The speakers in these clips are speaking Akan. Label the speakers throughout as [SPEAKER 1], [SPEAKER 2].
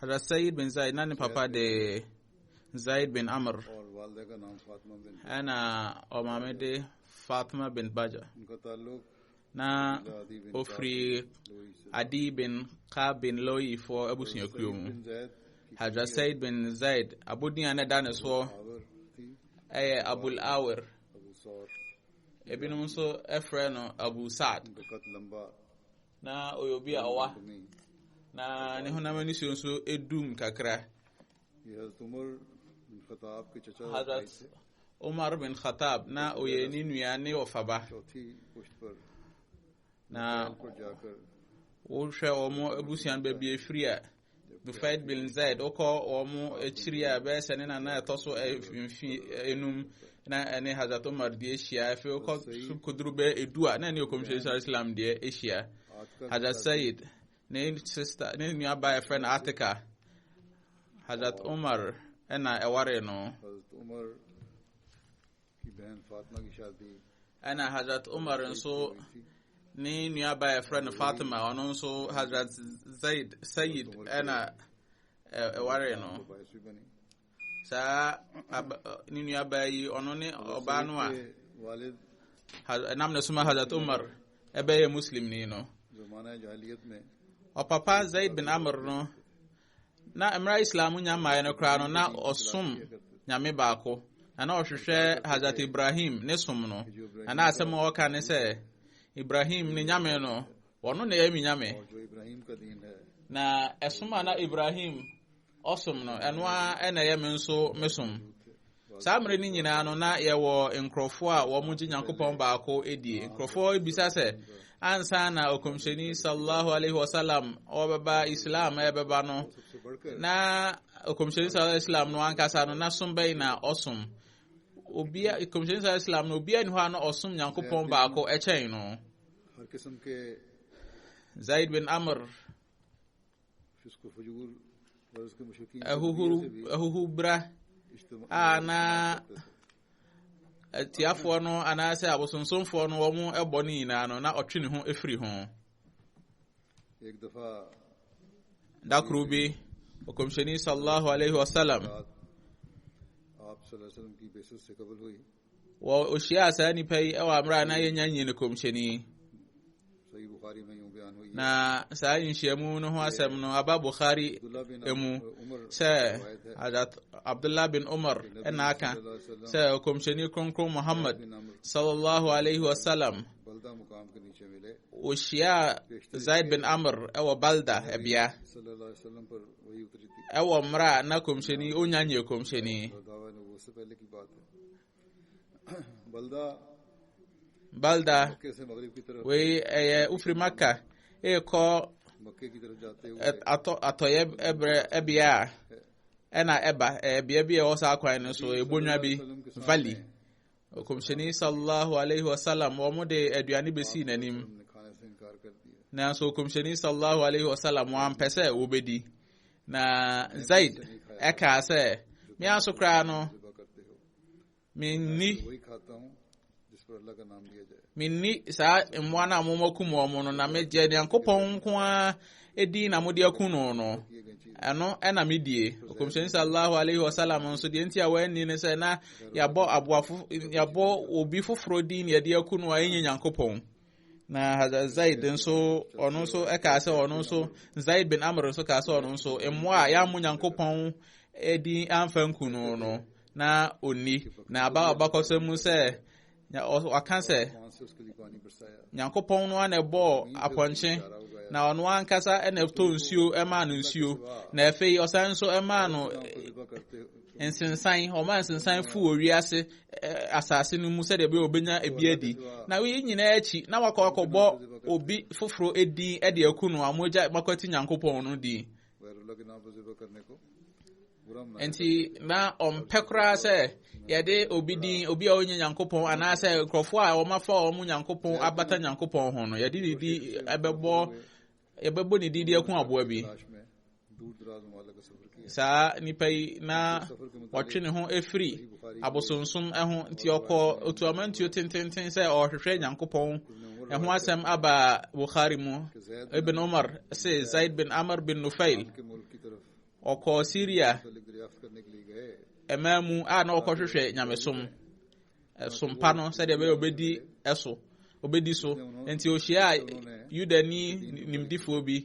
[SPEAKER 1] Hazrat Sayyid
[SPEAKER 2] bin Zaid na ne papa de Zaid bin Amr
[SPEAKER 1] ɛna
[SPEAKER 2] ɔmaame de Fatima bin Baja
[SPEAKER 1] na
[SPEAKER 2] ofiri Adi bin Ka bin Loyi foɔ abusuakuo mu
[SPEAKER 1] Hazrat Sayyid
[SPEAKER 2] bin Zaid abodin a na ɛda ne soɔ
[SPEAKER 1] ɛyɛ Abul
[SPEAKER 2] Awir
[SPEAKER 1] ebinom
[SPEAKER 2] nso ɛfrɛ no Abu Saad
[SPEAKER 1] na
[SPEAKER 2] ɔyɛ obi a ɔwa
[SPEAKER 1] na ne
[SPEAKER 2] honam ani so nso edum kakra
[SPEAKER 1] hazrat
[SPEAKER 2] umar bin khatab na ɔyɛ ne nua ne ɔfaba
[SPEAKER 1] na wohwɛ
[SPEAKER 2] wɔn abusua no baabi efiri a Dufayed bin Zaid wokɔ wɔn akyiri a ɛbɛyɛ sɛ ne nana ɛtɔ so mfi enum na ɛne Hazrat Umar deɛ ahyia afei wokɔ so koduru bɛ edu a na ɛne ɔkɔmhyɛni sɔrɔ Islam deɛ ahyia Hazrat Said ne sista ne nuaba ɛfrɛ no Atika Hazrat Umar ɛna ɛware no
[SPEAKER 1] ɛna hazrat
[SPEAKER 2] umar nso ne nuaba a yɛfrɛ no fatima ɔno nso hazrat zaid sayid ɛna ɛware no
[SPEAKER 1] saa
[SPEAKER 2] ne nuaba yi ɔno ne ɔbaa no a
[SPEAKER 1] ɛnam
[SPEAKER 2] na suma hazrat umar ɛbɛyɛ muslim ni no
[SPEAKER 1] ɔpapa
[SPEAKER 2] zaid bin amr no Na mmerɛ a Islam nya mmaeɛ no koraa no, na ɔsom Nyame baako, na na ɔhwehwɛ Hazrat Ibrahim ne som no, na na asɛm a ɔka ne sɛ, Ibrahim ne Nyame no, wɔno na ɛyɛ me Nyame.
[SPEAKER 1] Na ɛsom a
[SPEAKER 2] na Ibrahim ɔsom no, ɛno ara na ɛyɛ me nso me som. Saa mmerɛ no nyinaa no, na yɛwɔ nkurɔfoɔ a wɔn gye Nyankopɔn baako die. Nkurɔfoɔ bisa sɛ, ansa na ɔkɔmhyɛni sallallahu alaihi wasallam ɔbɛba Islam ɛbɛba no, na ɔkɔmhyɛni sallallahu alaihi wasallam no ankasa no, na som bɛyi na ɔsom. Obia, ɔkɔmhyɛni sallallahu alaihi wasallam no, obia ni hɔ a na ɔsom Nyankopɔn baako ɛkyɛn no. Zaid bin Amr
[SPEAKER 1] ahuhubra
[SPEAKER 2] a na atiafoɔ no anaasɛ abosonsomfoɔ no wɔn bɔ no nyinaa no na ɔtwe ne ho firi ho
[SPEAKER 1] da koro bi
[SPEAKER 2] ɔkɔmhyɛni sallallahu alaihi wasallam
[SPEAKER 1] wɔ
[SPEAKER 2] ohyiaa saa nipa yi wɔ abere a na yɛnya nyi ne kɔmhyɛni
[SPEAKER 1] na saa nhyiamu
[SPEAKER 2] no ho asɛm no aba bukhari mu sɛ abdullah bin umar ɛna aka sɛ kɔmhyɛni kronkron muhammad sallallahu alaihi wasallam
[SPEAKER 1] ohyiaa
[SPEAKER 2] zaid bin amr ɛwɔ balda ɛbea
[SPEAKER 1] ɛwɔ mmerɛ a na
[SPEAKER 2] kɔmhyɛni ɔnya nyɛ kɔmhyɛni balda
[SPEAKER 1] wei ɛyɛ wofiri
[SPEAKER 2] maka ɛrekɔ
[SPEAKER 1] atɔyɛ
[SPEAKER 2] ɛbrɛ ɛbea a ɛna ɛba ɛyɛ bea bi a ɛwɔ saa kwan no so ɛbonwa bi valley kɔmhyɛni sallallahu alaihi wasallam wɔn de aduane bɛsii n'anim
[SPEAKER 1] nanso kɔmhyɛni
[SPEAKER 2] sallallahu alaihi wasallam wɔampɛ sɛ wɔbɛdi Na Zaid ɛkaa sɛ, me aso koraa no,
[SPEAKER 1] menni menni saa
[SPEAKER 2] mmoa no a momakum wɔn no na megye nyankopɔn nko a ɛdi na mode aku no no ɛno
[SPEAKER 1] ɛna medie
[SPEAKER 2] ɔkɔmhyɛni sallallahu alaihi wasallam nso deɛ nti a wɔanni no sɛ na yɛabɔ aboafo yɛabɔ obi foforɔ din na yɛde aku no a ɛnyɛ nyankopɔn na zaid nso ɔno nso ɛkaa sɛ ɔno nso zaid bin amr nso kaa sɛ ɔno nso mmoa a yɛammo nyankopɔn adi amfa nku no no na onni na aba abakɔsɛ mu sɛ ɔka sɛ
[SPEAKER 1] nyankopɔn no ana
[SPEAKER 2] ɛbɔɔ apɔnkye na ɔno ankasa na ɛtɔ nsuo ɛmaa no nsuo na afei ɔsan nso ɛmaa no
[SPEAKER 1] Nsensan, wɔma
[SPEAKER 2] nsensan fu wɔ wiase asase no mu sɛdeɛ ɛbɛyɛ wɔbɛnya ebi adi. Na wei nyinaa akyi, na wakɔ akɔbɔ obi foforɔ edin de aku no a mogya makwati Nyankopɔn no din.
[SPEAKER 1] Nti na
[SPEAKER 2] ɔmpɛ koraa sɛ yɛde obi din obi a ɔnyɛ nyankopɔn anaasɛ nkurɔfoɔ a wɔafa wɔn nyankopɔn abata nyankopɔn ho no yɛde ne din ɛbɛbɔ yɛbɛbɔ ne din de ako aboa bi
[SPEAKER 1] saa nipa yi
[SPEAKER 2] na ɔtwe ne ho afiri abosonsom ho nti ɔkɔ otuamantuo tententen sɛ ɔrehwehwɛ nyankopɔn ɛho asɛm aba bukhari mu ibn umar se zaid bin amr bin nufail
[SPEAKER 1] ɔkɔ syria ɛmaa mu a
[SPEAKER 2] na ɔkɔhwehwɛ nyamesom ɛsom pa no sɛdeɛ ɛbɛyɛ ɔbɛdi ɛso ɔbɛdi so nti ɔhyia yudani nimdifoɔ bi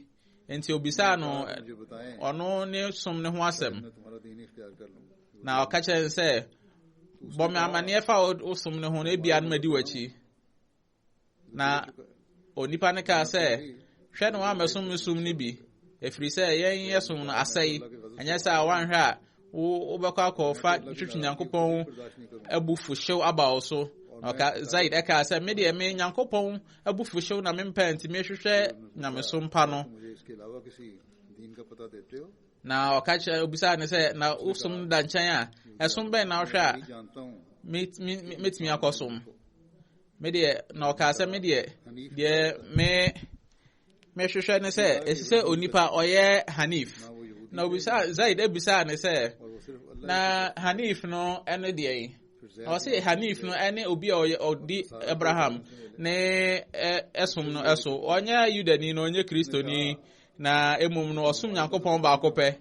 [SPEAKER 2] nti ɔbisaa no ɔno
[SPEAKER 1] ne som
[SPEAKER 2] ne ho asɛm
[SPEAKER 1] na ɔka kyerɛ sɛ
[SPEAKER 2] bɔ me amanneɛ fa wo som ne ho no ebia no madi w'akyi na onipa no kaa sɛ hwɛ no wammɛsom me som no bi ɛfiri sɛ yɛn yɛ som no asɛe ɛnyɛ sɛ a woanhwɛ a wobɛkɔ akɔfa twitwi nyankopɔn abufuhyew aba wo so ɔka zaid ɛkaa sɛ me deɛ me nyankopɔn abufuhyew na mempɛ nti mehwehwɛ nyamesom pa no
[SPEAKER 1] na ɔka kyerɛ
[SPEAKER 2] obisaa ne sɛ na wosom no da nkyɛn a ɛsom bɛn na wohwɛ a
[SPEAKER 1] mɛtumi
[SPEAKER 2] akɔsom me deɛ na ɔkaa sɛ me deɛ deɛ me mehwehwɛ ne sɛ ɛsi sɛ onipa ɔyɛ hanif na obisa zaid abisaa ne sɛ na
[SPEAKER 1] hanif no
[SPEAKER 2] ɛne deɛ yi na ɔse hanif no ɛne obi a ɔyɛ ɔdi abraham ne ɛsom no ɛso ɔnyɛ yudani na ɔnyɛ kristoni na mmom no ɔsom nyankopɔn baako pɛ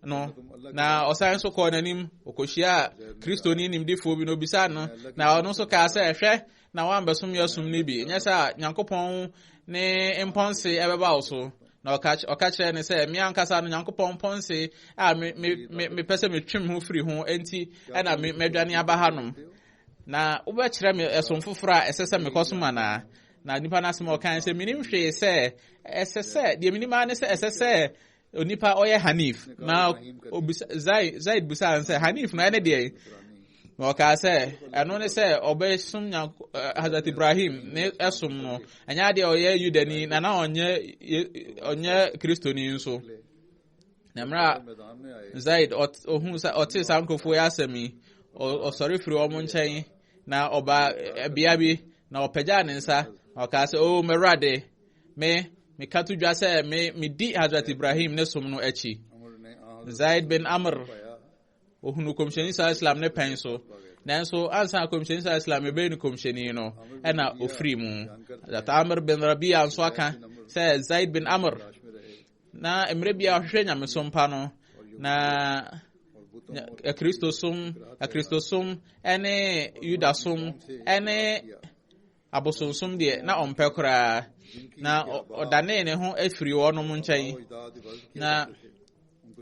[SPEAKER 2] no na ɔsan nso kɔɔ n'anim ɔkɔhyiaa kristoni nimdefoɔ bi na obisaa no na ɔno nso kaa sɛ hwɛ na woambɛsom yɛ som no bi ɛnyɛ sɛ a nyankopɔn ne mpɔnse ɛbɛba wo so na ɔka ky- ɔka kyerɛɛ ne sɛ me ankasa no nyankopɔn mpɔnse a me- me- me- mepɛ sɛ metwem ho firi ho enti ɛna me- madwane aba hanom na wobɛkyerɛ me ɛsom foforɔ a ɛsɛ sɛ mekɔsom anaa na nipa no asɛm a ɔkae sɛ menim hwee sɛ ɛsɛ sɛ deɛ menim ara ne sɛ ɛsɛ sɛ onipa a ɔyɛ hanif na obisa zaid zaid bisa no sɛ hanif na ɛne deɛ na ɔkaa sɛ ɛno ne sɛ ɔbɛsom nya eh, hazrat ibrahim ne ɛsom no ɛnyɛ adeɛ ɔyɛ yudani na na ɔnyɛ Ye- ɔnyɛ kristoni nso na mmerɛ a मैदान में आए zaid
[SPEAKER 1] ɔt- ɔhu
[SPEAKER 2] sɛ ɔte saa nkurɔfoɔ yɛ asɛm yi ɔ- ɔsɔre firi wɔn nkyɛn na ɔba ɛbea bi na ɔpagyaa ne nsa na ɔkaa sɛ o mɛwurade Me, meka to dwa sɛ me medi Hazrat Ibrahim ne som no akyi.
[SPEAKER 1] Zaid bin Amr,
[SPEAKER 2] ohunu Kɔmhyɛni Sala Islam ne pɛn so. Nanso, ansa na Kɔmhyɛni Sala Islam ɛbɛyɛ no Kɔmhyɛni no, ɛna ofiri mu. Hazrat Amr bin Rabia nso aka sɛ Zaid bin Amr, na mmerɛ bi a ɔhwehwɛ nyamesom pa no, na akristosom akristosom ne yudasom ne abosonsom deɛ na ɔmpɛ koraa na ɔdanee ne ho afiri wɔnom nkyɛn na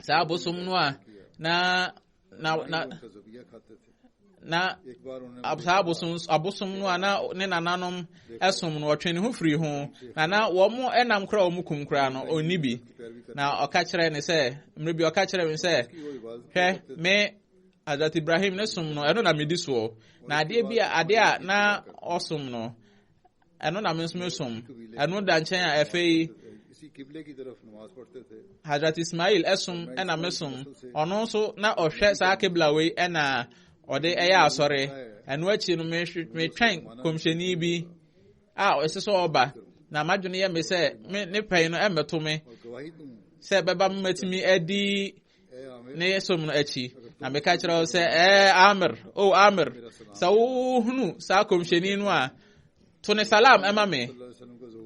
[SPEAKER 2] saa abosom no a na na na na saa abosom abosom no a na ne nananom ɛsom no ɔtwe ne ho firi ho na na wɔn ɛnam kora wɔn kum kora no ɔnni bi na ɔka kyerɛ ne sɛ mmiri bi ɔka kyerɛ me sɛ hwɛ me Azat Ibrahim ne som no ɛno na medi soɔ na adeɛ bi a adeɛ a na ɔsom no ɛno na me nso mesom ɛno da nkyɛn a ɛfei Hazrat Ismail ɛsom ɛna mesom ɔno nso na ɔhwɛ saa kebla wei ɛna ɔde ɛyɛ asɔre ɛno akyi no metwɛn kɔmhyɛni bi a ɛsɛ sɛ ɔba na madwene yɛ me sɛ ne pɛn no ɛmmɛto me sɛ ɛbɛba mmatumi adi ne som no akyi na meka kyerɛ wo sɛ ɛɛ amir o amir sɛ wohunu saa kɔmhyɛni no a to ne salam ɛma me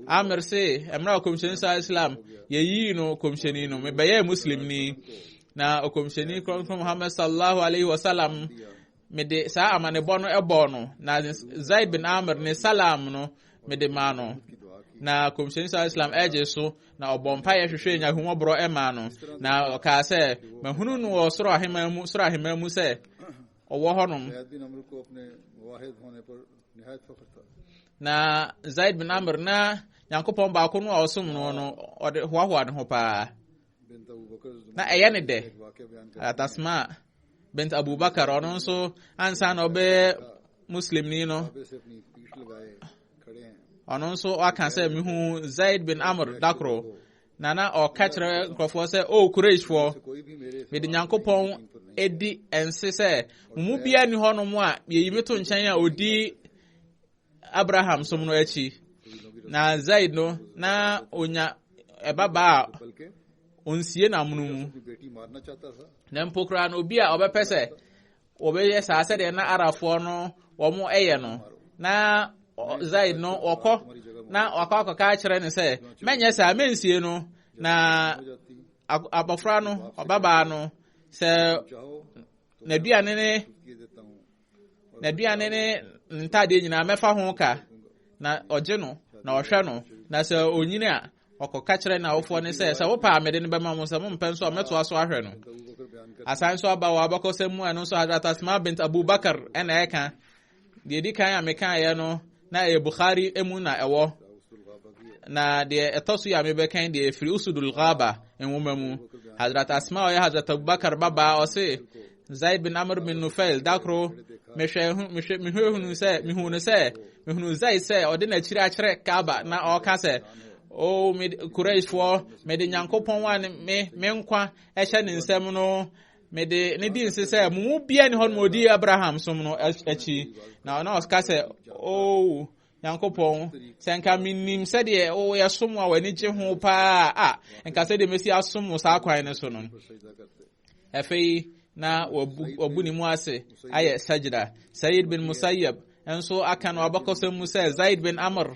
[SPEAKER 2] amir se ɛmmerɛ a kɔmhyɛni saa islam yɛyii no kɔmhyɛni no mebɛyɛɛ muslimni na ɔkɔmhyɛni kronkron muhammad sallallahu alaihi wasallam mede saa amanebɔ no bɔɔ no na zaid bin amr ne salam no mede maa no na kɔmhyɛni sa islam ɛgye so na ɔbɔ mpaeɛ hwehwɛ nyahummɔborɔ ɛmaa no na ɔkaa sɛ mahunu no wɔ soro ahema mu soro ahema mu sɛ ɔwɔ hɔnom na zaid bin amr na nyankopɔn baako no a ɔsom no no ɔde hoahoa ne ho paa na ɛyɛ ne dɛ atasma bint abubakar ɔno nso ansa na ɔbɛyɛ muslimni no ɔno nso ɔaka sɛ mehu zaid bin amr dakoro na na ɔka kyerɛ nkurɔfoɔ sɛ o kureshfoɔ mede nyankopɔn adi ɛnse sɛ mo mu biara nni hɔnom a yɛyi me to nkyɛn a ɔdi abraham som no akyi na zaid no na onya ɛbabaa a onsie no amono mu na mpo koraa no obi a ɔbɛpɛ sɛ wɔbɛyɛ saa sɛdeɛ na arafoɔ no wɔn ɛyɛ no na zaid no wɔkɔ na wakɔ akɔka akyerɛ no sɛ mɛnyɛ saa mɛnsie no na abɔfra no ɔbabaa no sɛ n'aduane ne n'aduane ne ntadeɛ nyinaa mɛfa ho ka na ɔgye no na ɔhwɛ no na sɛ onyini a ɔkɔka kyerɛ n'awofoɔ ne sɛ sɛ wopɛ a mede no bɛma mo sɛ mompɛ nso a mɛtoa so ahwɛ no asan nso aba wɔ abakɔsɛm mu a ɛno nso hadrat asma bint abubakar ɛna ɛka deɛ di kan a mekaeɛ no na ɛyɛ bukhari mu na ɛwɔ na deɛ ɛtɔ so yɛ a mebɛkan deɛ ɛfiri usudul ghaba nwoma mu hadrat asma ɔyɛ hadrat abubakar babaa ɔse Zaid bin Amr bin Nufail da koro mehwɛ mehwɛ mehwɛ sɛ mehuu no sɛ mehunu Zaid sɛ ɔde n'akyiri akyerɛ Kaaba na ɔka sɛ o me Qurayshfoɔ mede Nyankopɔn a me me nkwa ɛhyɛ ne nsam no mede ne di nse sɛ mo mu bia ne hɔ no ɔdi Abraham som no akyi na ɔna ɔka sɛ o nyankopɔn sɛ nka menim sɛdeɛ woyɛ som a w'ani gye ho paa a nka sɛdeɛ mɛsi asom wo saa kwan no so no Afei na wabu wabu ne mu ase ayɛ sajda. Sayyid bin Musayyab nso aka no abakɔsɛm mu sɛ Zaid bin Amr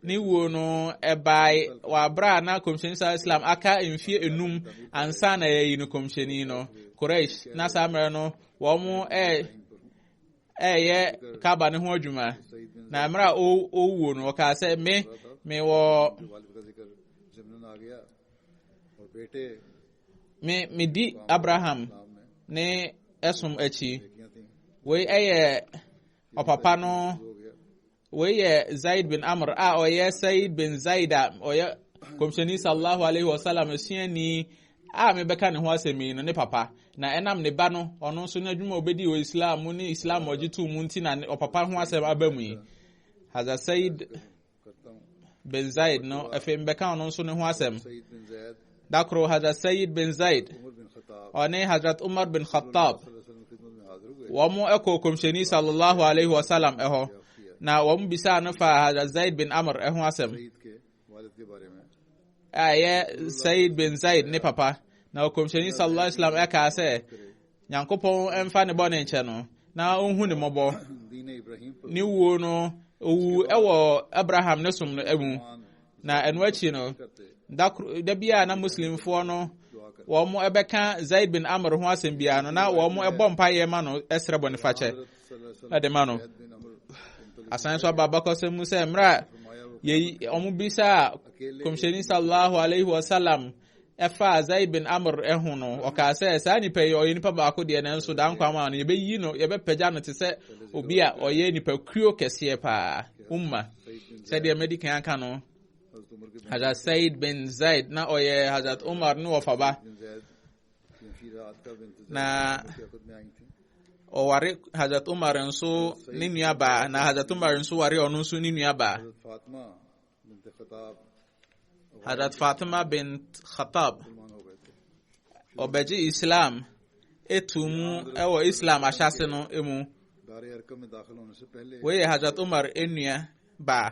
[SPEAKER 2] ne wuo no ɛbae wɔ abere a na kɔmhyɛni saa islam aka mfie enum ansa na yɛyi no kɔmhyɛni no Quraysh na saa mmerɛ no wɔn ɛyɛ kaba ne ho adwuma na mmerɛ a ɔwuo no ɔkaa sɛ me mewɔ me medi abraham ne ɛsom akyi wei ɛyɛ ɔpapa no wei yɛ zaid bin amr a ɔyɛ said bin zaid a ɔyɛ kɔmhyɛni sallallahu alaihi wasallam asuani a mebɛka ne ho asɛm yi no ne papa na ɛnam ne ba no ɔno nso n'adwuma a ɔbɛdi wɔ islam mu ne islam ɔgye to mu nti na ɔpapa ho asɛm aba mu yi haza said bin zaid no afei mebɛka ɔno nso ne ho asɛm da koro hazrat sayid bin zaid ɔne hazrat umar bin khattab wɔn ɛkɔ kɔmhyɛni sallallahu alaihi wasallam ɛhɔ na wɔn bisaa no fa hazrat zaid bin amr ɛho asɛm a ɛyɛ sayid bin zaid ne papa na ɔkɔmhyɛni sallallahu alaihi wasallam ɛkaa sɛ nyankopɔn mfa ne bɔne nkyɛ no na ɔnhu ne mmɔbɔ ne wuo no ɔwu wɔ abraham ne som no mu na ɛno akyi no da bi a na muslimfoɔ no wɔn ɛbɛka zaid bin amr ho asɛm biara no na wɔn ɛbɔ mpaeɛ ma no ɛsrɛ bɔne fakyɛ ɛde ma no asan so aba abakɔsɛm mu sɛ mmerɛ a wɔn bisa kɔmhyɛni sallallahu alaihi wasallam Ɛfa Azai bin Amr ho no, ɔkaa sɛ, Saa nipa yi, ɔyɛ nipa baako deɛ, nanso daa nkwa ama no, yɛbɛyi no, yɛbɛpagya no te sɛ obi a ɔyɛ nipakuo kɛseɛ paa, umma. Sɛdeɛ madi kan aka no, Hazrat Said bin Zaid, na ɔyɛ Hazrat Umar ne wɔfaba, na ɔware Hazrat Umar nso ne nuabaa, na Hazrat Umar nso ware ɔno nso ne nuabaa. Hadrat Fatima bint Khattab ɔbɛgye Islam etu mu ɛwɔ Islam ahyase no mu wei yɛ Hadrat Umar enua baa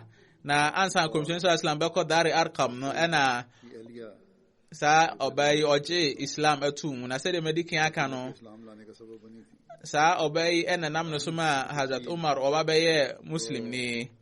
[SPEAKER 2] na ansan kɔmhyɛn sɛ Islam bɛkɔ Dari Arkam no ɛna saa ɔbaa yi ɔgye Islam etu mu na sɛdeɛ mɛdi kan aka no saa ɔbaa yi ɛna nam ne so ma Hadrat Umar ɔba bɛyɛ Muslim ni.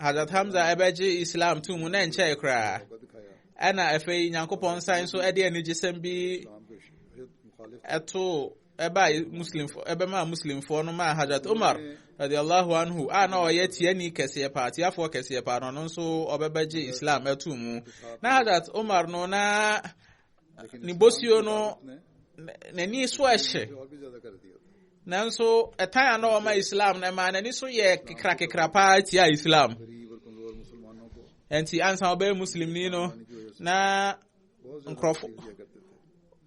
[SPEAKER 2] Hazrat Hamza ɛbɛgye Islam to mu na ɛnkyɛe koraa ɛna afei Nyankopɔn nsan nso ɛde anigyesɛm bi ɛto ɛba Muslimfo ɛbɛma Muslimfoɔ no maa Hazrat Umar radiallahu anhu a na ɔyɛ tiani kɛseɛ paa tiafoɔ kɛseɛ paa no ɔno nso ɔbɛbɛgye Islam ɛto mu na Hazrat Umar no na ne bosuo no n'ani so ɛhyɛ nanso ɛtan a na ɔma islam na ɛma n'ani so yɛ kekrakekra paa tia islam nti ansa ɔbɛyɛ muslimni no na nkurɔfo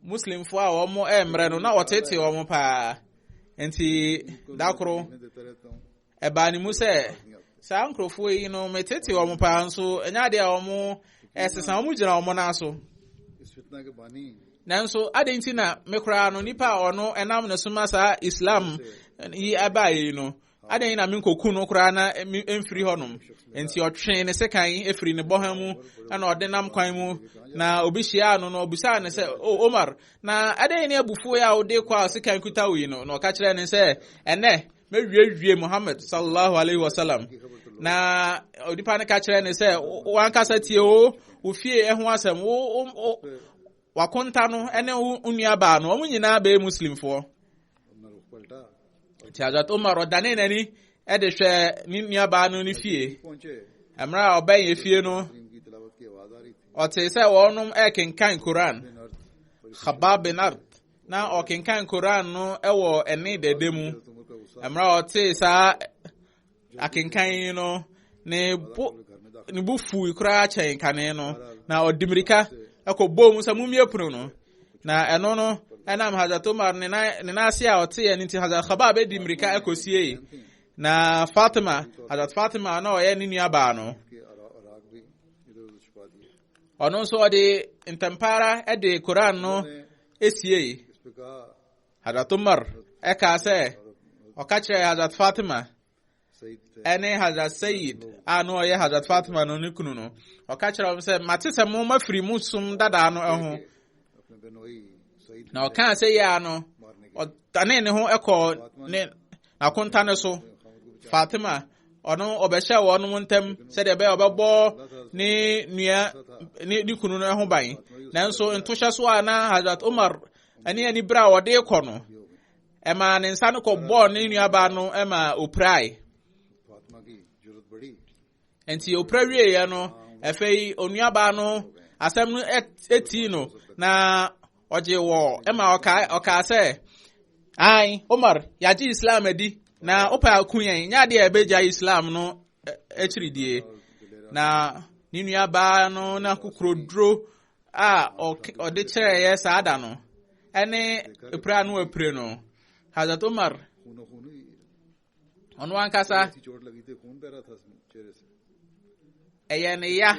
[SPEAKER 2] muslimfo a wɔn ɛmmerɛ no na wɔtete wɔn paa nti dakoro Ɛbaa ne mu sɛ, saa nkurɔfoɔ yi no, metete wɔn paa nso, ɛnyɛ adeɛ a wɔn ɛsesa, wɔn gyina wɔn nan so. Nanso, adɛn nti na me koraa no, nipa a ɔno ɛnam ne soma saa Islam yi ɛbaa yi no, adɛn na menkɔku no koraa na mfiri hɔnom? Enti ɔtwee ne sekan efiri ne bɔha mu, ɛna ɔde nam kwan mu, na obi hyiaa no, na ɔbisaa no sɛ, O Omar, na adɛn ne abufuo yi a wode kɔ a sekan kuta wo yi no? Na ɔka kyerɛɛ ne sɛ, ɛnɛ, mɛwiewie muhammad sallallahu alaihi wasallam na onipa no ka kyerɛ ne sɛ wankasa tie o wo fie ɛho asɛm wo wakonta no ɛne wo nuabaa no wɔn nyinaa bɛyɛ muslimfoɔ nti azat umar ɔdane n'ani ɛde hwɛ ne nuabaa no ne fie mmerɛ a ɔbɛn yɛ fie no ɔte sɛ wɔnom ɛkenkan koran khabab bin art na ɔkenkan koran no wɔ ɛne dɛdɛ mu mmerɛ a ɔtee saa akenkan yi no ne bo ne bo fui koraa kyɛn kane no na ɔde mmirika ɛkɔbɔɔ mu sɛ mommie pono no na ɛno no ɛnam hazrat omar ne nan ase a ɔteɛ no nti hazrat khabab bɛdi mmirika ɛkɔsiei na fatima hazrat fatima na ɔyɛ ne nuabaa no ɔno nso ɔde ntɛmpa ara de koran no siei hadrat umar ɛkaa sɛ ɔka kyerɛɛ hadrat fatima ɛne hadrat sayid a na ɔyɛ hadrat fatima no ne kunu no ɔka kyerɛ wɔn sɛ mate sɛ mo mafiri mo som dadaa no ho na ɔkaa sɛ yɛ a no ɔdane ne ho kɔɔ ne n'akonta no so fatima ɔno ɔbɛhyɛ wɔn ntam sɛdeɛ ɛbɛyɛ ɔbɛbɔ ne nua ne ne kunu no ho ban nanso ntohyɛ so a na hazrat umar ne ani berɛ a ɔde kɔ no ɛmaa ne nsa no kɔbɔɔ ne nuabaa no ɛmaa opirae Enti opira wieeɛ no, afei onuabaa no asɛm no etii no na ɔgye wɔ ɛma ɔkaa ɔkaa sɛ ae Omar yɛagye Islam adi na wopɛ ako yɛn nyɛ adeɛ a ɛbɛgya Islam no akyiri die na ne nuabaa no na kokoroduro a ɔde kyerɛeɛ saa da no ɛne epira no apire no Hazrat Omar ɔno ankasa ɛyɛ ne ya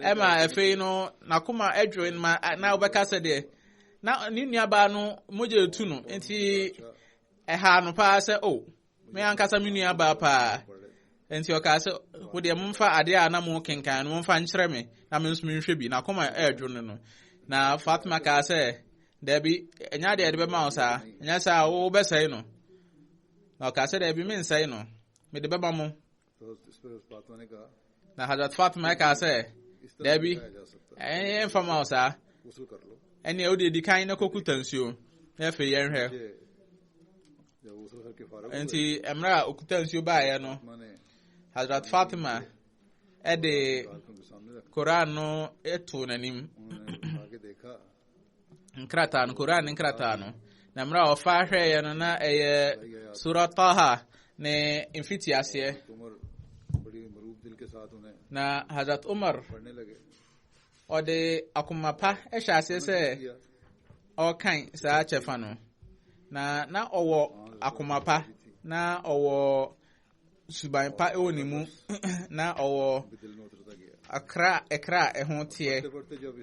[SPEAKER 2] ɛma afei no n'akoma adwiri ma na wobɛka sɛ deɛ na ne nuabaa no mogya etu no nti ɛha no paa sɛ o oh, me ankasa me nuabaa paa nti ɔkaa sɛ wo deɛ momfa adeɛ a na mo kenkan no momfa nkyerɛ me na me nso menhwɛ bi n'akoma ɛredwo no no na fatima kaa sɛ daabi ɛnya deɛ ɛde bɛma wo saa ɛnyɛ saa wobɛsɛe no na ɔkaa sɛ daabi mensɛe no mede bɛma mo na hazrat fatima kaa sɛ daabi ɛmfa ma wo saa ɛneɛ wode adi kan na kɔkuta nsuo na afei yɛnhwɛ nti mmerɛ a ɔkuta nsuo baeɛ no hazrat fatima ɛde koran no ɛtoo n'anim nkrataa no koran ne nkrataa no na mmerɛ a ɔfa hwɛeɛ no na ɛyɛ sura taha ne mfitiaseɛ na hazrat umar ɔde akoma pa hyɛ aseɛ sɛ ɔrekan saa kyɛfa no na na ɔwɔ akoma pa na ɔwɔ suban pa wɔ ne mu na ɔwɔ akra ɛkra a ɛho teɛ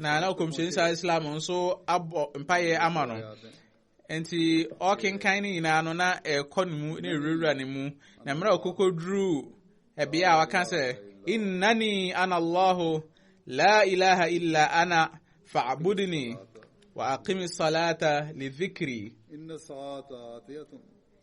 [SPEAKER 2] na na ɔkɔmhyɛni saa islam nso abɔ mpaeɛ ama no nti ɔkenkan no nyinaa no na ɛkɔ ne mu na ɛwurawura ne mu na mmerɛ a ɔkɔkɔduruu ɛbea a waka sɛ innani ana allahu la ilaha illa ana fa'budni wa aqimi salata li dhikri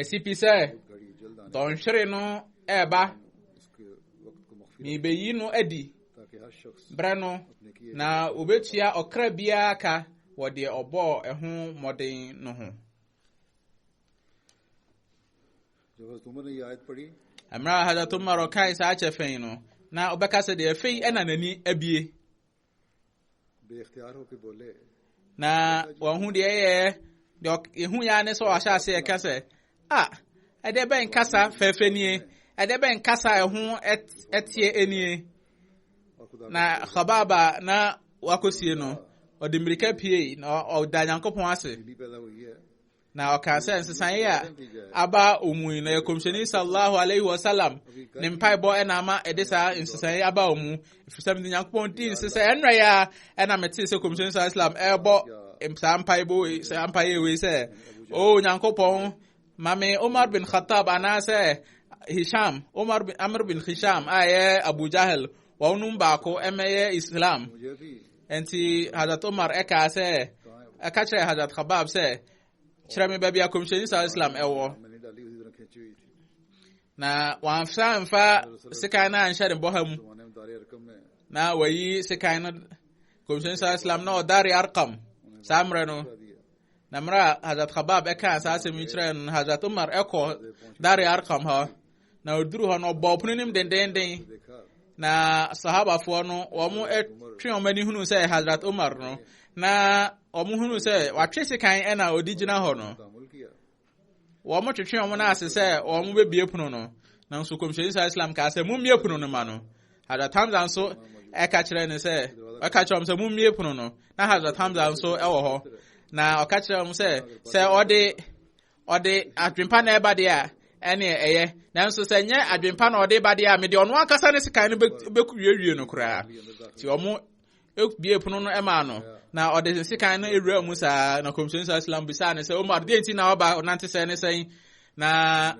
[SPEAKER 2] Ɛsi pi sɛ dɔnhwere no ɛreba. Mebeyi no adi berɛ no na obetua ɔkra biara ka wɔ deɛ ɔbɔɔ ɛho mmɔden no ho. Mmerɛ a Hazrat Umar ɔkae saa kyɛfɛn no, na ɔbɛka sɛ deɛ afei ɛna n'ani abie. na wɔn ho deɛ yɛ deɛ ehu ya ne sɛ ɔahyɛ ase ɛka sɛ a ɛdeɛ bɛn kasa fɛɛfɛ nie ɛdeɛ bɛn kasa ɛho ɛteɛ nie na kɔbaaba na wakɔsie no ɔde mmirika pie na ɔda nyankopɔn ase Na ɔkaa sɛ nsesaeɛ a aba wɔn mu yi na yɛ kɔmhyɛni sallallahu alaihi wasallam ne mpaebɔ ɛna ama ɛde saa nsesaeɛ aba wɔn mu ɛfiri sɛ mede nyankopɔn dii nse sɛ ɛnora yɛ a ɛna metee sɛ kɔmhyɛni sallallahu alaihi wasallam ɛrebɔ saa mpaebɔ saa mpaeɛ wei sɛ o oh, nyankopɔn ma me umar bin khattab anaasɛ hisham umar bin amr bin hisham a ɛyɛ abu jahel wɔn mu baako ɛmɛyɛ islam Enti Hazrat Omar ɛkaa sɛ, ɛka kyerɛ Hazrat Khabab sɛ, kyerɛ me baabi a Kɔmhyɛni Sal Islam ɛwɔ. Na wɔamfa mfa sekan no anhyɛ ne bɔha mu. Na wɔyi sekan no Kɔmhyɛni Sal Islam na ɔdare Arkam saa mmerɛ no. Na mmerɛ a Hazrat Khabab ɛkaa saa asɛm yi kyerɛ no, Hazrat Omar ɛkɔ dare Arkam hɔ. na ɔduru hɔ no ɔbɔ ɔpono anim dendenden na sahabafoɔ no wɔtwe wɔn ani hunu sɛ hazrat umar no na wɔn hunu sɛ watwe sekan ɛna ɔdi gyina hɔ no wɔn twetwe wɔn no ase sɛ wɔn bɛbie pono no nanso kɔmhyɛni sa islam kaa sɛ mommie pono no ma no hazrat hamza nso ɛka kyerɛ ne sɛ ɛka kyerɛ wɔn sɛ mommie pono no na hazrat hamza nso ɛwɔ hɔ na ɔka kyerɛ wɔn sɛ sɛ ɔde ɔde adwempa na ɛba deɛ a ɛne ɛyɛ nanso sɛ nyɛ adwempa na ɔde ba deɛ a mede ɔno ankasa ne sekan no bɛwiewie no koraa nti ɔmo bie pono no ɛmaa no na ɔde ne sekan no awura mu saa na kɔmhyɛn saa islam bisaa ne sɛ omar deɛ nti na ɔba ɔnante sɛ ne sɛn na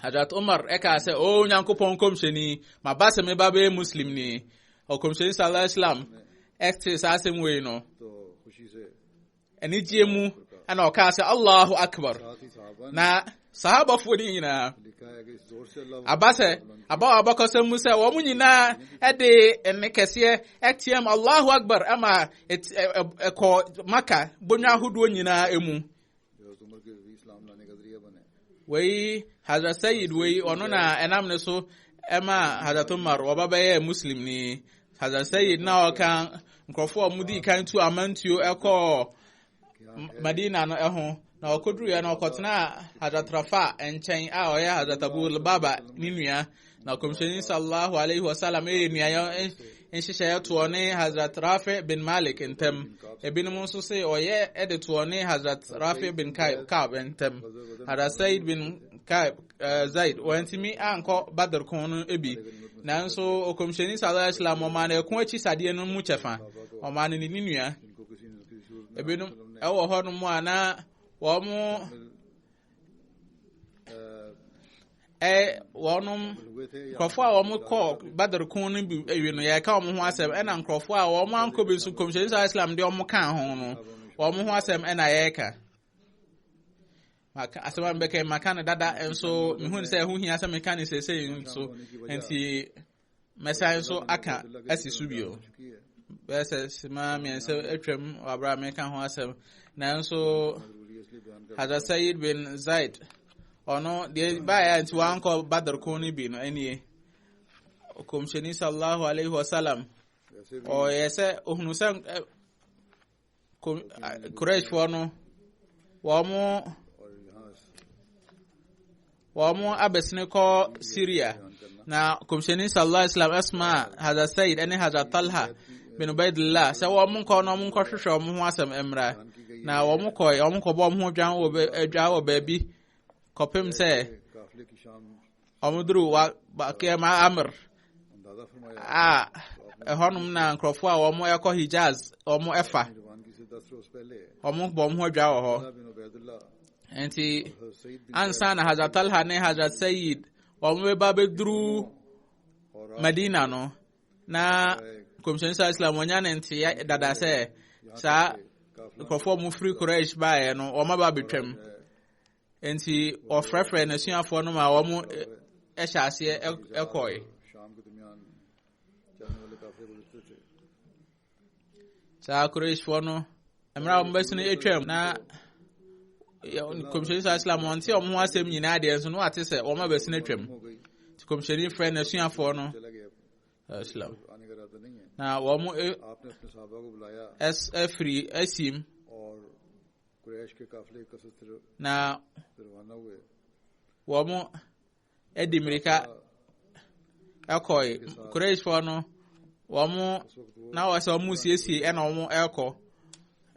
[SPEAKER 2] hadrat omar ɛkaa sɛ o nyankopɔn kɔmhyɛni maba sɛ meba bɛyɛ muslim ni ɔkɔmhyɛni saa islam ɛte saa asɛm wei no anigyeɛ mu ɛna ɔkaa sɛ allahu akbar na sahabafoɔ no nyinaa aba sɛ aba wɔ abakɔsɛm mu sɛ wɔn nyinaa ɛde ɛne kɛseɛ ɛteɛm allahu akbar ɛma ɛkɔ maka bonwa ahodoɔ nyinaa ɛmu wei hazrat sayid wei ɔno na ɛnam ne so ɛma hazrat umar wɔba bɛyɛ muslim ni Hazasɛyid na ɔka nkurɔfoɔ a wɔdii kan tu amantuo kɔɔ Madina no ho na ɔkɔduruiɛ na ɔkɔtenaa Hazrat Rafa nkyɛn a ɔyɛ Hazrat Abu Lubaba ne nua na kɔmhyɛni sallallahu alaihi wasallam ɛyɛ nuayɔ nhyehyɛeɛ toɔ ne Hazrat Rafi bin Malik ntam ebinom nso se ɔyɛ ɛde toɔ ne Hazrat Rafi bin Kaib ntam Hazrat Said bin Kaib Eh, zaid wɔantumi ankɔ badr ko no bi nanso ɔkɔmhyɛni sala islam ɔmaa no ɛko akyi sadeɛ no mu kyɛfa ɔmaa no ne ne nua ebinom ɛwɔ hɔ no mu a na wɔn eh, wɔnom nkurɔfoɔ a wɔn kɔ badr ko no bi awie no yɛka wɔn ho asɛm ɛna nkurɔfoɔ a wɔn ankɔ bi nso kɔmhyɛni sala islam deɛ wɔn kaa ho no wɔn ho asɛm ɛna yɛka maka asɛm a mebɛka maka no dada nso mehu sɛ ɛho hia sɛ meka no seesei nso nti mɛsan nso aka asi so bio bɛyɛ sɛ sima mmiɛnsa atwam wɔ aberɛ a meka ho asɛm nanso hadra sayid bin zaid ɔno deɛ baeɛ a nti wankɔ badr ko no bi no ɛnie kɔmhyɛni sallallahu alaihi wasallam ɔyɛ sɛ ɔhunu sɛ kurashfoɔ no wɔn wɔn abɛsene kɔ syria na kɔmhyɛni sallallahu alaihi wasallam asma hazrat said ne hazrat talha bin ubaidillah sɛ wɔn nkɔ na wɔn nkɔhwehwɛ wɔn ho asɛm mmra na wɔn kɔ wɔn kɔbɔ wɔn ho dwan wɔ baabi kɔpem sɛ wɔduru Bakir Amr a ɛhɔnom na nkurɔfoɔ a wɔkɔ Hijaz wɔn ɛfa wɔn bɔ wɔn ho adwa wɔ hɔ nti ansa na Hazrat Talha ne Hazrat Sayyid wɔn bɛba bɛduru Madina no na kɔmhyɛn sa Islam wɔnya ne nteɛ dada sɛ saa nkurɔfoɔ a wɔfiri Quraysh baeɛ no wɔn aba bɛtwam Enti ɔfrɛfrɛ n'asuafoɔ no ma wɔn hyɛ aseɛ kɔe. Saa Qurayshfoɔ no, mmerɛ a wɔbɛsi no atwam na kɔmhyɛni saa islam ɔnte wɔn ho asɛm nyinaa deɛ nso no wate sɛ wɔn a bɛsi no atwam. Nti kɔmhyɛni frɛ n'asuafoɔ no islam. Na wɔn afiri asim Na wɔde mmirika kɔe. Qurayshfoɔ no, wɔn na wɔ sɛ wɔn siesie ɛna wɔn rekɔ.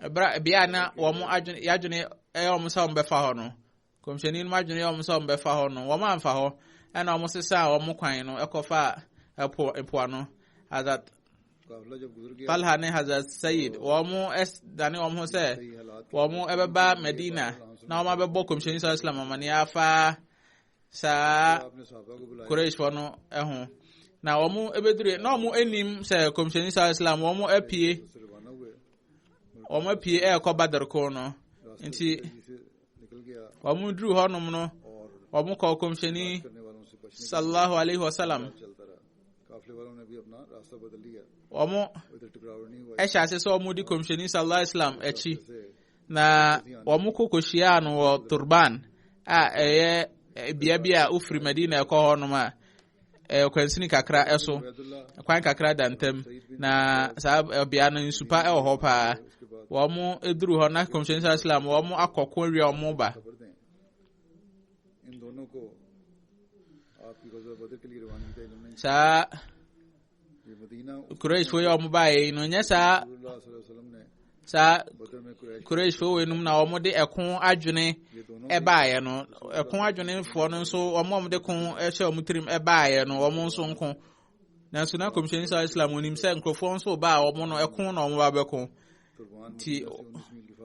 [SPEAKER 2] Ɛbra bea na wɔn adwene yɛadwene ɛyɛ wɔn sɛ wɔn bɛfa hɔ no, Kɔmhyɛni no mu adwene yɛ wɔn sɛ wɔbɛfa hɔ no, wɔamfa hɔ, ɛna wɔsesaa wɔn kwan no kɔfaa ɛpo mpoano. Hazrat Talha ne Hazrat Sayyid, wɔn dane wɔn ho sɛ wɔn ɛbɛba Medina na wɔn abɛbɔ Kɔmhyɛni Sɔlɔ Islam amane afa saa Qurayshfoɔ no ho. Na wɔn ɛbɛdure, na wɔn anim sɛ Kɔmhyɛni Sɔlɔ Islam, wɔn apue, wɔn apue ɛrekɔ Badr ko no. Nti, wɔn duru hɔnom no wɔn kɔ kɔmhyɛni sallallahu alaihi wasallam wɔn ɛhyɛ ase sɛ wɔn di kɔmhyɛni sallallahu alaihi wasallam akyi na wɔn kɔ kɔhyiaa no wɔ turban a ɛyɛ bea bi a wofiri madina ɛkɔ hɔnom a eh, kwansini kakra ɛso eh, kwan kakra da ntam na saa eh, bea no nsupa ɛwɔ hɔ paa wɔn eduru hɔ na kɔmhyɛnni saa islam wɔn akɔ ko awia wɔn ba saa. kureshfo yi a wɔn baeɛ yi no nyɛ saa saa kureshfo wei nom na wɔn de ɛko adwene ɛbaeɛ no ɛko adwenefoɔ no nso wɔn a wɔn de ko ɛhyɛ wɔn tirim ɛbaeɛ no wɔn nso nko nanso na kɔmhyɛni sɛ islam onim sɛ nkurɔfoɔ nso ba a wɔn no ɛko na wɔn ba bɛko ti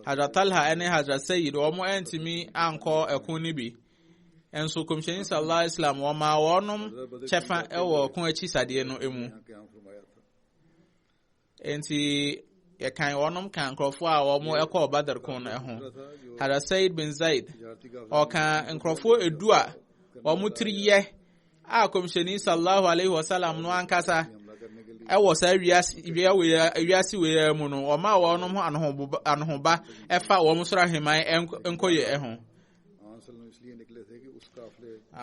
[SPEAKER 2] hazrat talha ɛne hazrat sayid wɔn ɛntumi ankɔ ɛko no bi nso kɔmhyɛni sallallahu alaihi wasallam wɔmaa wɔnom kyɛfa wɔ ko akyi sadeɛ no mu nti yɛkan wɔnom ka nkurɔfoɔ a wɔn ɛkɔɔ badar ko no ho hada said bin zaid ɔka nkurɔfoɔ edu a wɔn tiri yɛ a kɔmhyɛni sallallahu alaihi wasallam no ankasa ɛwɔ saa wiase wei mu no wɔn a wɔnom ho anohoba ɛfa wɔn soro aheman nkɔyɛ ho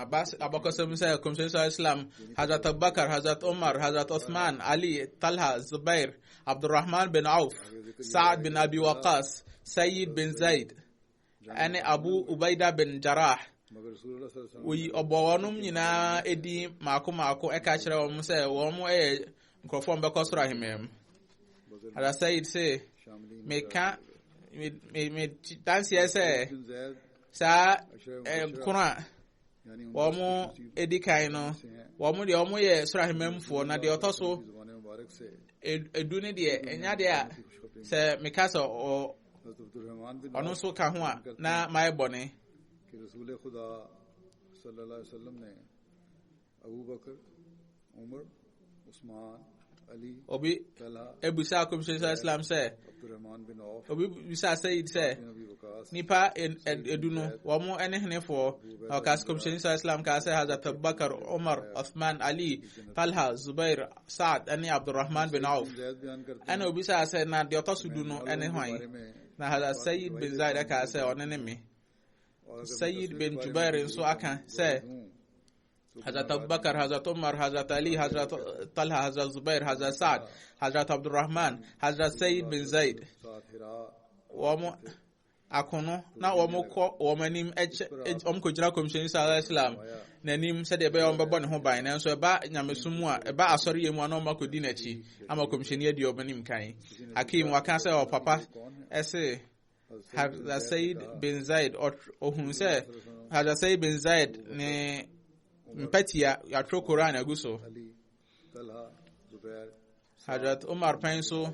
[SPEAKER 2] Abbas abakɔsɛm sɛ kɔmhyɛn sɔ islam hazrat abubakar hazrat umar hazrat uthman ali talha zubair abdurrahman bin auf sa'ad bin abi waqas sayyid bin zaid ɛne abu ubaida bin jarah oyi ɔbɔ wɔnom nyinaa ɛdin maako maako ɛka kyerɛ wɔn sɛ wɔn yɛ nkurɔfoɔ mbɛkɔ soro ahemman mu ada sayid se meka medanseɛ sɛ saa nkono a wɔn edi kan no wɔn deɛ wɔn yɛ soro ahemmanfoɔ na deɛ ɔtɔ so edu ne deɛ enya deɛ a sɛ meka sɛ ɔ ɔno nso ka ho a na mayɛ bɔne
[SPEAKER 1] Obi
[SPEAKER 2] ebisa akɔmhyɛ sɛ Islam sɛ
[SPEAKER 1] obi bisa Sayyid
[SPEAKER 2] sɛ nipa edu no wɔn ne henefoɔ na ɔka sɛ kɔmhyɛ sɛ Islam kaa sɛ Hazrat Abubakar Umar Uthman Ali Talha Zubair Saad ne Abdurrahman bin Auf ɛna
[SPEAKER 1] obi sɛ sɛ na
[SPEAKER 2] deɛ ɔtɔ so du no ne hwan na Hazrat Sayyid bin Zaid kaa sɛ ɔne ne me Sayyid bin Jubair nso aka sɛ Hazrat Abu Bakr, Hazrat Umar, Hazrat Ali, Hazrat Talha, Hazrat Zubair, Hazrat Sa'd, Hazrat Abdul Rahman, Hazrat Sayyid bin Zaid. Wɔn akono na wɔn kɔ wɔn anim ɛkyɛ wɔn kɔ gyina kɔmhyɛn sallallahu alaihi wasallam n'anim sɛdeɛ ɛbɛyɛ wɔn bɛbɔ ne ho ban nanso ɛba nyamesom mu a ɛba asɔre yɛ mu a na wɔn akɔdi n'akyi ama kɔmhyɛn adi wɔn anim kan. Hakim waka sɛ ɔpapa ɛse. Hadza Said bin Zaid ɔhun sɛ Hadza Said bin Zaid ne mpɛtia yɛatwerɛ Koran agu so Hadrat Umar pɛn so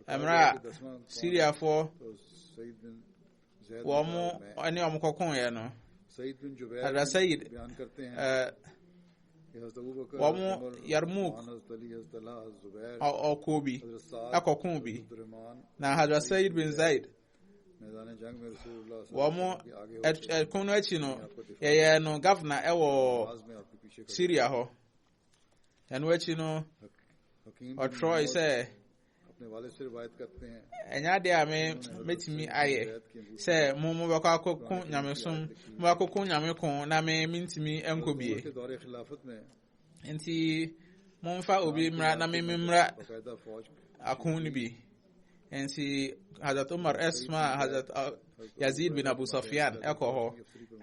[SPEAKER 2] mmerɛ a Syriafoɔ wɔn ne wɔn kɔkoeɛ no Hadrat Said wɔn yarmuk ɔko bi ɛkɔko bi na hadra sayid bin zaid wɔn ɛko no akyi no yɛyɛ no gavana ɛwɔ syria hɔ ɛno akyi no ɔtwerɛe sɛ
[SPEAKER 1] ɛnyɛ ade a me
[SPEAKER 2] mɛtumi ayɛ sɛ mo mobɛkɔ akɔko nyamesom mobɛkɔko nyame ko na me mentumi nkɔ bie
[SPEAKER 1] nti
[SPEAKER 2] momfa obi mmra na me memmra
[SPEAKER 1] ako no bi
[SPEAKER 2] nti hazrat umar ɛsoma hazrat Yazid bin Abu Sufyan ɛkɔ hɔ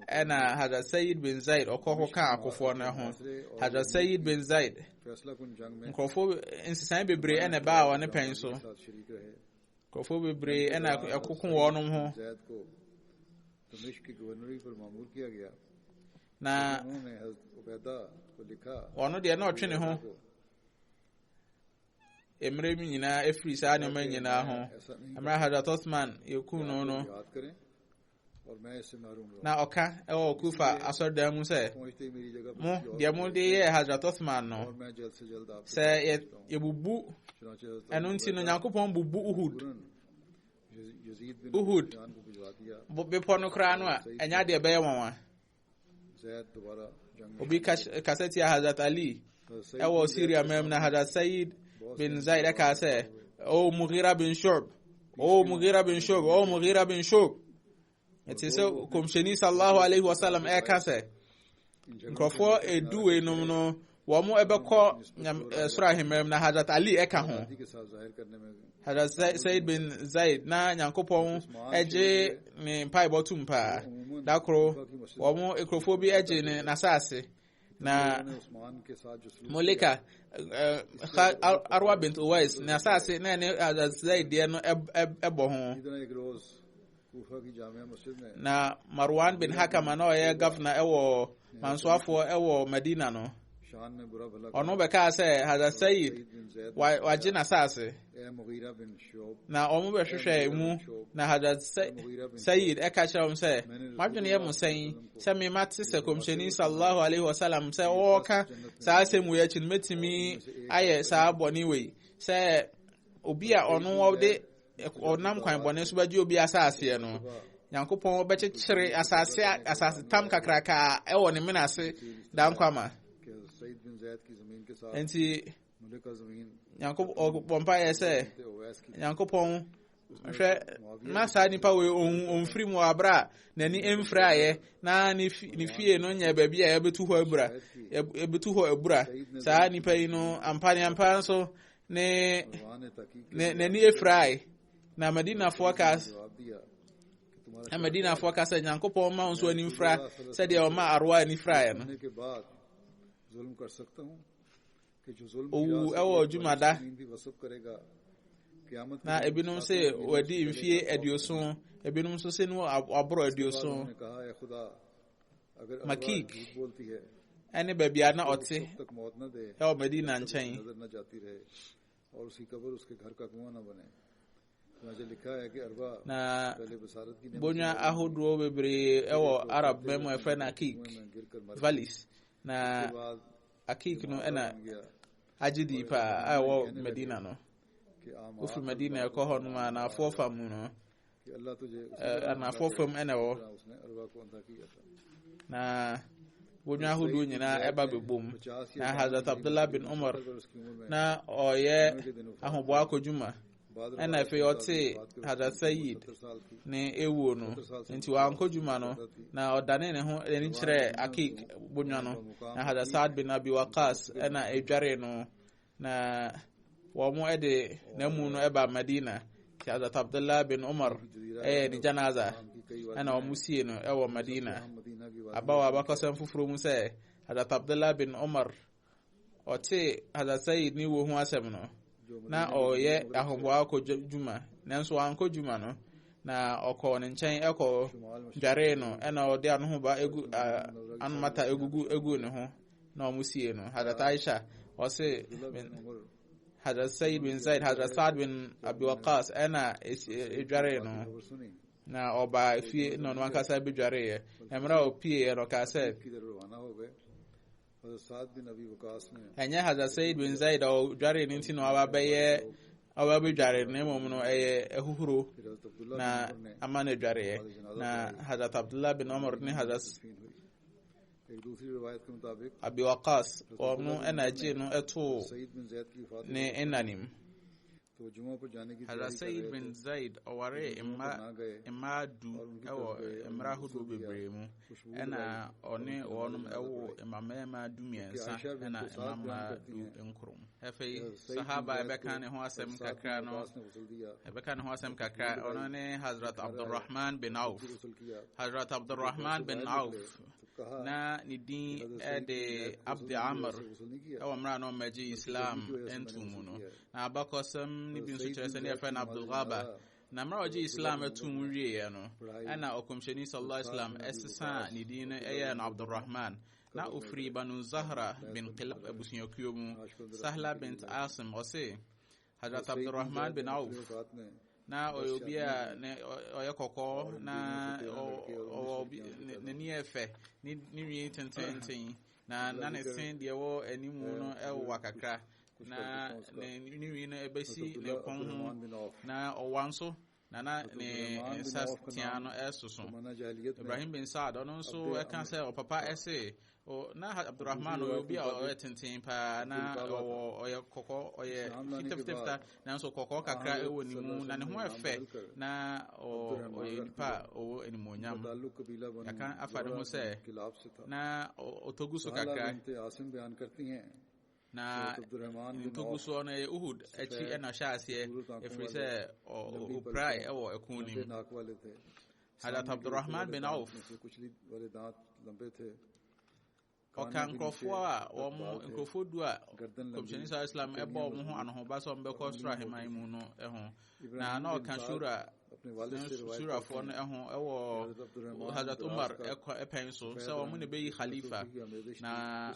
[SPEAKER 2] ɛna Hazrat Sayyid bin Zaid ɔkɔ hɔ ka akofoɔ no ho Hazrat Sayyid bin Zaid
[SPEAKER 1] nkurɔfoɔ nsesan
[SPEAKER 2] bebree ɛna ɛbaa wɔn ne pɛn so
[SPEAKER 1] nkurɔfoɔ
[SPEAKER 2] bebree
[SPEAKER 1] ɛna ɛkoko wɔn ho na ɔno deɛ na ɔtwe ne
[SPEAKER 2] ho mmerɛ mu nyinaa ɛfiri saa nneɛma nyinaa ho mmerɛ hadrat osman yɛkuu no no
[SPEAKER 1] na ɔka ɛwɔ
[SPEAKER 2] kufa asɔredan mu sɛ mo
[SPEAKER 1] deɛ mode
[SPEAKER 2] yɛɛ hadrat osman no
[SPEAKER 1] sɛ yɛbubu
[SPEAKER 2] ɛno
[SPEAKER 1] nti no nyankopɔn
[SPEAKER 2] bubu uhud
[SPEAKER 1] uhud bepɔ no koraa no
[SPEAKER 2] a ɛnyɛ adeɛ ɛbɛyɛ nwanwa
[SPEAKER 1] obi kasa tia
[SPEAKER 2] hazrat ali ɛwɔ syria mam na hazrat sayid bin zaid ɛka sɛ o mugira bin shob o mugira bin shob o mugira bin shob ɛte sɛ kɔmhyɛni sallahu alaihi wasallam ɛka sɛ nkurɔfoɔ ɛduwei nom no wɔbɛkɔ nyam eh, soro ahemmerɛ mu na hazrat ali ɛka ho
[SPEAKER 1] hazrat said bin
[SPEAKER 2] zaid na nyankopɔn ɛgye ne mpaebɔ tom paa da koro wɔn nkurɔfoɔ bi ɛgye ne n'asaase na
[SPEAKER 1] molika
[SPEAKER 2] eh, arwa bint uwais ne asaase na ɛne hazrat zaid deɛ no ɛbɔ ho
[SPEAKER 1] na marwan bin
[SPEAKER 2] hakam a na ɔyɛ gafna wɔ mansoafoɔ wɔ madina no
[SPEAKER 1] ɔno bɛkaa sɛ
[SPEAKER 2] hada sayid wagye
[SPEAKER 1] n'asase na ɔmo bɛhwehwɛ
[SPEAKER 2] mu na hada sayid ɛka kyerɛ wɔn sɛ madwene yɛ mo sɛn sɛ mema te sɛ kɔmhyɛni sallallahu alaihi wasallam sɛ ɔɔka saa asɛm wei akyi no mɛtumi ayɛ saa bɔne wei sɛ obi a ɔno ɔde ɔnam kwan bɔne so bɛgye obi asaaseɛ no nyankopɔn bɛkyekyere asase asase tam kakraka ɛwɔ ne mena ase da nkwa ma
[SPEAKER 1] nti nyankopɔn mpa
[SPEAKER 2] yɛ sɛ nyankopɔn hwɛ na saa nipa wei ɔmfiri mu aberɛ a n'ani mfiri ayɛ na ne fie no nyɛ baabi a yɛbɛtu hɔ abura yɛbɛtu hɔ abura saa nipa yi no ampa ne ampa nso ne
[SPEAKER 1] n'ani efurae
[SPEAKER 2] na madinafoɔ ka
[SPEAKER 1] na madinafoɔ ka sɛ
[SPEAKER 2] nyankopɔn ma wo nso ani mfura sɛdeɛ ɔma aroa ani furaeɛ no owu ɛwɔ dwumada na ebinom sɛ wadi mfie aduoson ebinom nso sɛ no aborɔ aduoson makik ne baabi a na ɔte ɛwɔ madina nkyɛn na bonya ahodoɔ bebree ɛwɔ arab man mu ɛfrɛ no akik valleys na akik no ɛna agye dii paa a ɛwɔ madina no wofiri madina ɛkɔ hɔ nom a naafoɔ fa mu no anafo fam na ɛwɔ na wɔnwa ahodoɔ nyinaa ɛba bɛbom na hazrat abdullah bin umar na ɔyɛ ahoboa akɔdwuma ɛna afei ɔte hazrat sayid ne ewuo no nti wankɔ dwuma no na ɔdane ne ho ani kyerɛ akik bonwa no na hazrat saad bin abi wakas ɛna ɛdware no Na wɔde n'amu no ba Madina. Sheikh Hazrat Abdullah bin Umar ɛyɛ ne janaza ɛna wɔn sie no ɛwɔ Madina abawa abakɔsɛm foforɔ mu sɛ Hazrat Abdullah bin Umar ɔte Hazrat Sayyid ne wuo ho asɛm no na ɔyɛ ahoboa akɔ dwuma nanso wankɔ dwuma no na ɔkɔ ne nkyɛn ɛkɔ dware no ɛna ɔde anohoba egu anomata egugu egu ne ho na wɔn sie no hadrat aisha ɔse hadrat said bin zaid hadrat saad bin abiwakas ɛna edware no na ɔba fie na ɔno ankasa bedwareeɛ mmerɛ a ɔpieeɛ no ɔkaa sɛ ɛnyɛ hadrat said bin zaid a ɔdwaree no nti na ɔaba bɛyɛ ɔba bedware na mmom no ɛyɛ ahuhuro na ama no adwareɛ na hadrat abdullah bin omar ne hadrat Abi Waqqas, ɔno na ɛgyee no too ne nna no mu. Hazrat Sayyid bin Zaid ɔwaree mma mmaa du wɔ mmerɛ ahodoɔ bebree mu, ɛna ɔne wɔn woo mma mmarima du mmiɛnsa ɛna mma mmaa du nkoro mu. Afei sahaba ɛbɛka ne ho asɛm kakra no, ɛbɛka ne ho asɛm kakra, ɔno ne Hazrat Abdurrahman bin Auf. Hazrat Abdurrahman bin Auf na ne din de abd amr ɛwɔ mmerɛ a na ɔmmɛgye islam nto mu no na abakɔsɛm no bi nso kyerɛ sɛ ne yɛfrɛ no abdulghaba na mmerɛ a ɔgye islam ato mu wieeɛ no ɛna ɔkɔmhyɛni sallallahu alaihi wasallam ɛsesa ne din no ɛyɛ no abdurrahman na ɔfiri banu zahra bin kilab abusuakuo mu sahla bint asim ɔse Hazrat Abdurrahman bin Auf na ɔyɛ obi a ɔyɛ kɔkɔɔ na ɔwɔ n'ani yɛ fɛ ne nwi tententen na na ne se deɛ ɛwɔ anim no ɛwowa kakra na ne nwi no ɛbɛsi ne kɔn ho na ɔwa nso na na ne nsa tea no ɛsoso ibrahim bin saad ɔno nso ɛka sɛ ɔpapa ɛse na abdurrahman ɔyɛ obi a ɔyɛ tenten paa na ɔwɔ ɔyɛ kɔkɔ ɔyɛ fitafitafita nanso kɔkɔɔ kakra ɛwɔ ne mu na ne ho ɛfɛ na ɔyɛ nipa a ɔwɔ animuonyam yɛka afa ne ho sɛ na ɔtɔgu so kakra Na ntobosoɔ no ɛyɛ Uhud akyi ɛna ɔhyɛ aseɛ ɛfiri sɛ ɔpirae ɛwɔ ɛko no mu Hazrat Abdurrahman bin Auf ɔka nkurɔfoɔ a wɔn nkurɔfoɔ du a kɔmhyɛni sa islam ɛbɔ wɔn ho anohoba sɛ wɔn bɛkɔ soro aheman mu no ho na na ɔka shura surafoɔ no ho ɛwɔ hadrat umar ɛpɛn so sɛ wɔn na ɛbɛyi khalifa na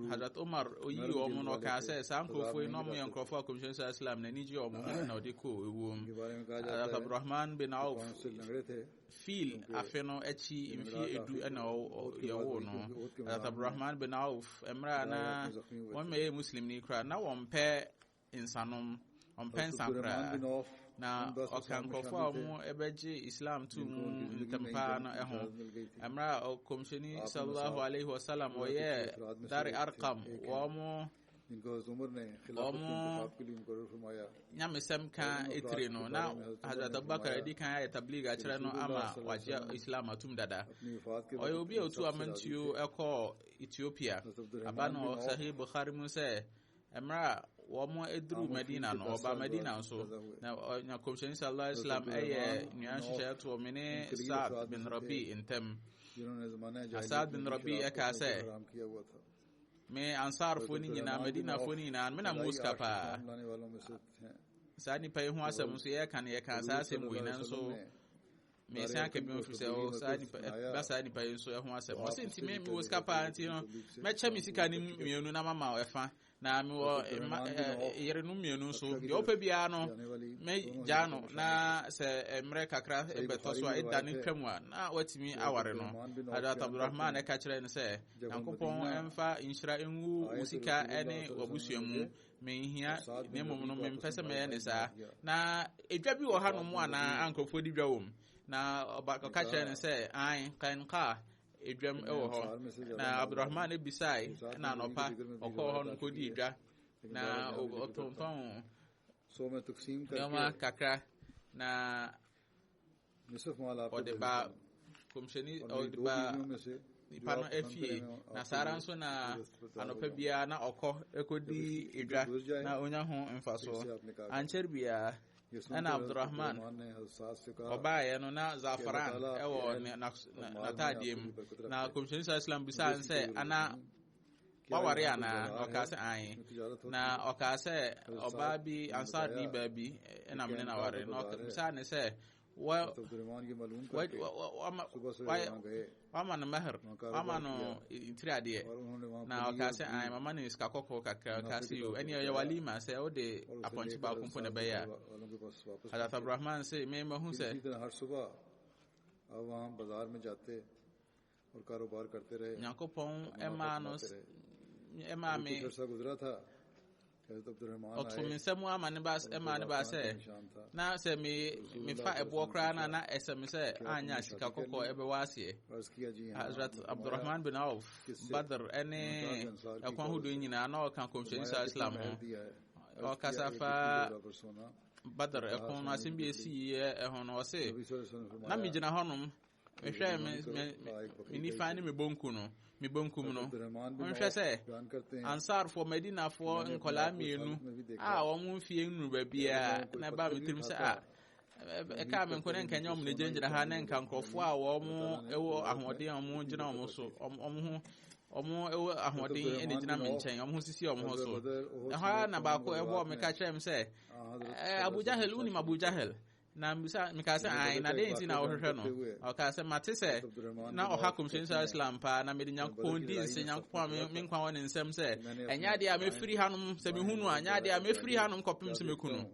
[SPEAKER 2] hadrat umar oyi wɔn no ɔkaa sɛ saa nkurɔfoɔ yi na ɔmo yɛ nkurɔfoɔ a kɔmhyɛn sɛ islam n'ani gye wɔn ho na ɔde kɔ ewuo mu hadrat abdurrahman bin auf fiil afe no akyi mfie edu ɛna yɛwo no hadrat abdurrahman bin auf mmerɛ a na wɔn mɛyɛ muslim ni koraa na wɔn pɛ nsanom, ɔmpɛ nsa koraa, na ɔka nkurɔfoɔ a wɔbɛgye Islam to mu ntɛmpa no ho. Mmerɛ a ɔkɔmhyɛni sallallahu alaihi wasallam ɔyɛ Dari Arkam wɔn wɔn nyamesɛm ka etire no na Hazrat Abubakar adi kan ayɛ tablig akyerɛ no ama wagye Islam atum dada. Ɔyɛ obi a otu amantuo ɛkɔɔ Ethiopia. Aba no Sahih Bukhari mu sɛ Mmerɛ a wɔduruu Madina no, wɔbaa Madina nso, na na Kɔmhyɛni sallallahu alaihi wasallam ɛyɛ nnuan hyehyɛ toɔ me ne Sa'ad bin Rabi ntɛm. Na Sa'ad bin Rabi ɛkaa sɛ, me Ansarfoɔ no nyinaa, Madinafoɔ no nyinaa, me na mo sika paa. Saa nipa yi ho asɛm nso yɛka no yɛka saa asɛm wei nanso mesan aka bi mfiri sɛ ɔwɔ saa nipa ɛba saa nipa yi nso ɛho asɛm ɔsi nti mi mi wɔ sika paa nti no mɛkyɛ mi sika ne mmienu na mama ɛfa na mi wɔ ɛma ɛɛ yere no mmienu nso deɛ ɔpɛ biara no mɛ gya no na sɛ mmerɛ kakra ɛbɛtɔ so a ɛda ne twam a na watumi aware no adat abdulrahman ɛka kyerɛ no sɛ nyankopɔn ɛnfa nhyira ɛngu wo sika ɛne wabusua mu menhia na mmom no mempɛ sɛ mɛyɛ ne saa na edwa bi wɔ ha no mu anaa nkurɔfoɔ di dwa wɔ mu na ɔka kyerɛ no sɛ an kan kaa edwam wɔ hɔ na abdurahman no bisae na anɔpa ɔkɔɔ hɔ no kɔdi edwa na ɔtontɔn
[SPEAKER 1] nneɛma kakra
[SPEAKER 2] na
[SPEAKER 1] ɔde baa
[SPEAKER 2] kɔmhyɛni ɔde baa nipa no afie na saa ara nso na anɔpa biara na ɔkɔ ɛkɔdi edwa na ɔnya ho mfasoɔ ankyɛre biara ɛna abdurrahman ɔbaeɛ no na zafaran ɛwɔ n'ataadeɛ mu na kɔmhyɛni sa islam bisaa sɛ ana waware anaa na ɔkaa sɛ ae na ɔkaa sɛ ɔbaa bi ansaadni baa bi ɛna mene na ware na ɔbisaa ne sɛ wama no mahr wama no tiri adeɛ na ɔkaa sɛ ae mama no sika kɔkɔɔ kakra ɔkaa sɛ yo ɛneɛ ɔyɛ walima sɛ wode apɔnkye baako mpo na ɛbɛyɛ a hadat abrahman se memahu sɛ
[SPEAKER 1] Nyankopɔn maa
[SPEAKER 2] no maa me
[SPEAKER 1] ɔto me nsa mu ama ne ba
[SPEAKER 2] ɛma ne ba sɛ na sɛ me mefa ɛboɔ koraa no a na ɛsɛ me sɛ anya sika kɔkɔɔ ɛbɛwɔ aseɛ Hazrat Abdurrahman bin Auf Badr ɛne ɛkwan ahodoɔ nyinaa na ɔka kɔmhyɛni saa Islam ho ɔkasa fa Badr ɛko no asɛm bi ɛsi yɛ ɛho no ɔse na megyina hɔnom mehwɛ me me me nifa ne me bonku no me bonkum no monhwɛ sɛ ansarfoɔ madinafoɔ nkɔlaa mmienu a wɔn mfie nnuru baabiara na ɛbaa me tirim sɛ a ɛkaa me nko ne nka nyɛ wɔn na gyinagyina ha ne nka nkurɔfoɔ a wɔn wɔ ahoɔden a wɔn gyina wɔn so wɔn ho wɔn wɔ ahoɔden na gyina me nkyɛn wɔn ho sisi wɔn ho so ɛhɔ ara na baako ɛbɔ me ka kyerɛ me sɛ ɛɛ abu jahel wonim abu jahel Na mbisa mekaa sɛ ae na dɛn nti na wohwehwɛ no? Ɔkaa sɛ mate sɛ na ɔha kɔmhyɛni sɛ Islam paa na mede Nyankopɔn di nse Nyankopɔn a me nkwa wɔ ne nsɛm sɛ ɛnyɛ adeɛ a mɛfiri hanom sɛ mehu no a ɛnyɛ adeɛ a mɛfiri hanom kɔpem sɛ mɛku no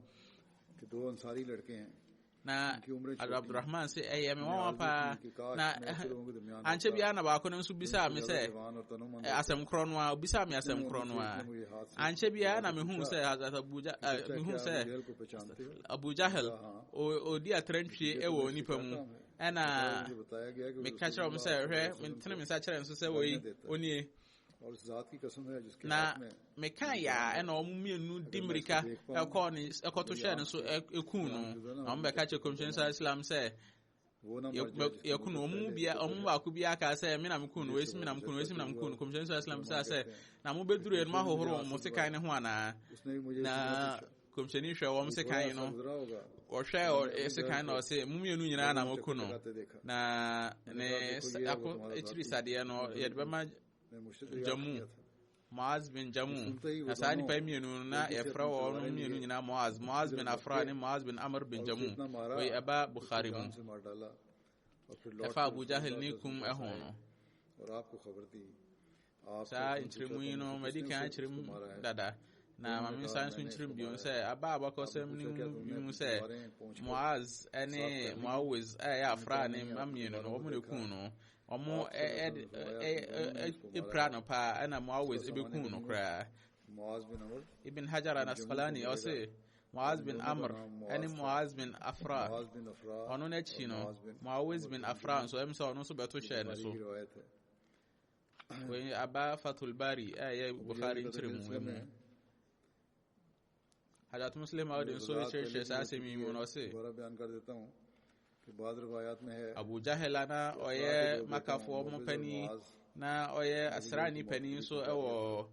[SPEAKER 1] na
[SPEAKER 2] abdurahman sɛ ɛyɛ me nwanwa paa na ankyɛ biara na baako no nso bisaa me sɛ asɛm korɔ no a obisaa me asɛm korɔ no a ankyɛ biara na mehu sɛ mehu sɛ Abu Jahal, ɔdi atrantwie wɔ onipa mu. Ɛna meka kyerɛ wɔn sɛ, hwɛ, metene me nsa kyerɛ nso sɛ wei, onie.
[SPEAKER 1] Na meka
[SPEAKER 2] yɛ a ɛna wɔn mmienu di mmirika ɛkɔ ne ɛkɔto hyɛ ne so ɛkuu no. Na wɔn bɛka kyerɛ kɔmhyɛn sa Islam sɛ, yɛku no ɔmo bia ɔmo baako bi aka sɛ me na me kun no esi me na me kun no esi me na me kun no kɔmhyɛn nso asilam bisa sɛ na mo bɛduru yɛn mo ahohoro wɔn sekan ne ho anaa na kɔmhyɛni hwɛ wɔn sekan no ɔhwɛ sekan na ɔse mo mmienu nyinaa na mo ku no na ne ako akyiri sadeɛ no yɛde bɛma gya mu Moaz bin Jamu. Na saa nnipa yi mmienu no, na yɛfrɛ wɔn mmienu nyinaa Moaz. Moaz bin Afra ne Moaz bin Amr bin Jamu. Wei ɛba Bukhari mu. Ɛfa Abu Jahil ne kum ɛho no.
[SPEAKER 1] Saa
[SPEAKER 2] nkyerɛmu yi no, madi kan akyerɛm dada. na mm, maame nsa nso nkyerɛm bio sɛ aba a bakɔsɛm no mu sɛ moaz ne moawiz a ɛyɛ afra ne mma mmienu no wɔn na ɛkuu no Ɔmo ɛ ɛ ɛ ɛ pira no paa ɛna Muawiz ebekum no koraa.
[SPEAKER 1] Ibn Hajar al-Asqalani
[SPEAKER 2] ɔse Muaz bin Amr ɛne Muaz bin Afra ɔno n'akyi no Muawiz bin Afra nso ɛmu sɛ ɔno nso bɛto hyɛɛ ne so. Wei aba Fatul Bari ɛyɛ Bukhari nkyerɛmu mu. Hadat Muslim Audi nso kyerɛkyerɛ saa asɛm yi mu na ɔse
[SPEAKER 1] Abu Jahel a na
[SPEAKER 2] ɔyɛ makafoɔ mu panin na ɔyɛ asraani panin nso wɔ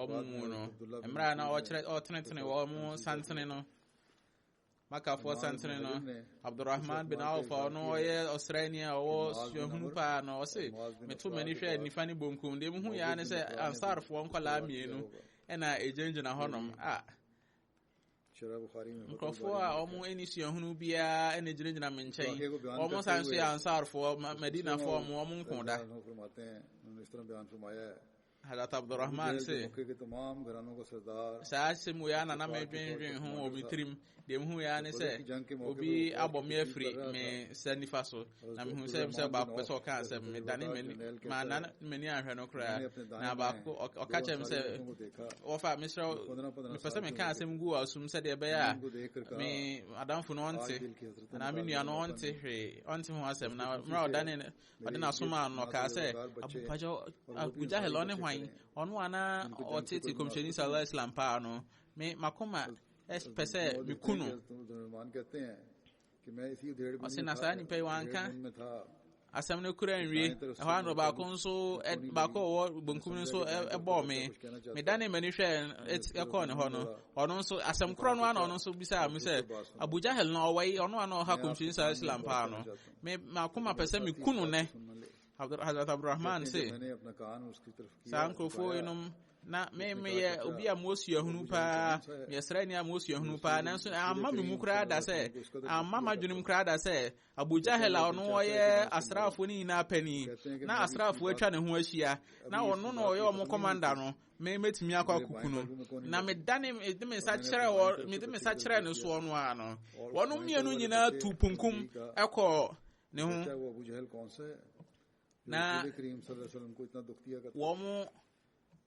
[SPEAKER 2] wɔn mu no mmerɛ a na ɔtenetene wɔn santene no makafoɔ santene no abdurahman bin auf ɔno ɔyɛ ɔsraani a ɔwɔ suahunu paa no ɔse meto m'ani hwɛ nifa ne bonkum deɛ muhu yɛa ne sɛ ansarfoɔ nkɔlaa mmienu ɛna ɛgyinagyina hɔnom a nkurɔfoɔ a ɔmo ani suahunu biara ɛna gyinagyina me nkyɛn ɔmo san nso yɛ ansarfoɔ madinafoɔ ɔmo ɔmo nko da Hazrat Abdul Rahman se, Saa asɛm wei ara na na medwendwen ho wɔ me tirim. Deɛ mehu yɛ ara ne sɛ, obi abɔ me afiri me nsa nifa so, na mehu sɛ sɛ baako pɛ sɛ ɔka asɛm, medane m'ani, manna m'ani anhwɛ no koraa. Na baako ɔka kyerɛ me sɛ, wɔfa mesrɛ wo, mepɛ sɛ meka asɛm gu asum sɛdeɛ ɛbɛyɛ a me adamfo no ɔnte, anaa me nua no ɔnte hwee, ɔnte ho asɛm. Na mmerɛ a ɔdane ɔde na somaa no ɔkaa sɛ abupakyɛ abu jahil ɔne hwan ɔno ana ɔtete kɔmhyɛni sallallahu alaihi wasallam paa no me makoma pɛ sɛ meku no ɔse na saa nipa yi wanka asɛm no kura nwie ɛhɔ ano baako nso baako ɔwɔ bonkum no nso ɛbɔɔ me medane m'ani hwɛ ɛkɔɔ ne hɔ no ɔno nso asɛm korɔ no ana ɔno nso bisaa me sɛ abujahel no ɔwɔ yi ɔno ana ɔha kɔmhyɛni saa islam paa no Me m'akoma pɛ sɛ meku no nnɛ. Hazrat Abdurrahman se, saa nkurɔfoɔ yinom na me meyɛ obi a mowɔ suahunu paa, meyɛ sraani a mowɔ suahunu paa, nanso amma me mu koraa da sɛ, amma m'adwenem koraa da sɛ, Abu Jahel a ɔno ɔyɛ asraafoɔ no nyinaa panin, na asraafoɔ atwa ne ho ahyia, na ɔno na ɔyɛ wɔn kɔmanda no, me mɛtumi akɔ akuku no na medane mede me nsa kyerɛ wɔ mede me nsa kyerɛ ne soɔ no ara no wɔn mmienu nyinaa tu punkum ɛkɔ ne ho na wɔn